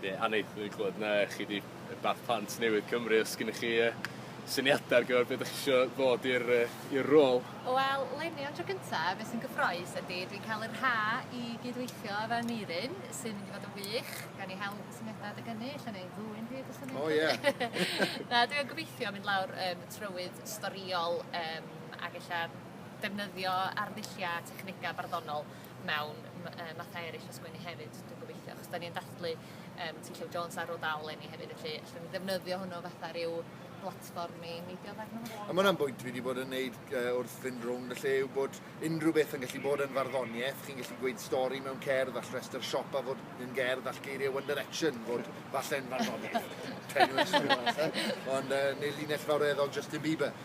Ie, Annie, dwi 'di clwad na chi 'di yy Bath Plant Newydd Cymru os gennych chi yy syniada ar gyfer be' 'dach chi isio ddod i'r yy i'r rôl? Wel leni am dro gynta be' sy'n gyffrous ydi dwi'n ca'l yr ha i gyd-weithio efo Aneurin sy'n mynd i fod yn wych, gawn ni hel syniada adeg ynny ella neu ddwyn hyd os yw 'na un... O ie. Na dwi yn gobeithio mynd lawr yym y trywydd storïol yym ag ella defnyddio arddullia a technega barddonol mewn mathau eraill o sgwennu hefyd, dwi'n gobeithio, achos da ni'n dathlu um, T. Llew Jones ar ôl dal enni hefyd, felly allwn ni ddefnyddio hwnnw fatha rhyw blatfform i neidio ddeg nhw. A mae'n bwynt fi wedi bod yn neud uh, wrth fynd rownd y lle yw bod unrhyw beth yn gallu bod yn farddoniaeth, chi'n gallu gweud stori mewn cerdd, all restr siop a fod yn gerdd, all geiriau One Direction fod falle'n farddoniaeth. Ond uh, neu linell fawreddog Justin Bieber.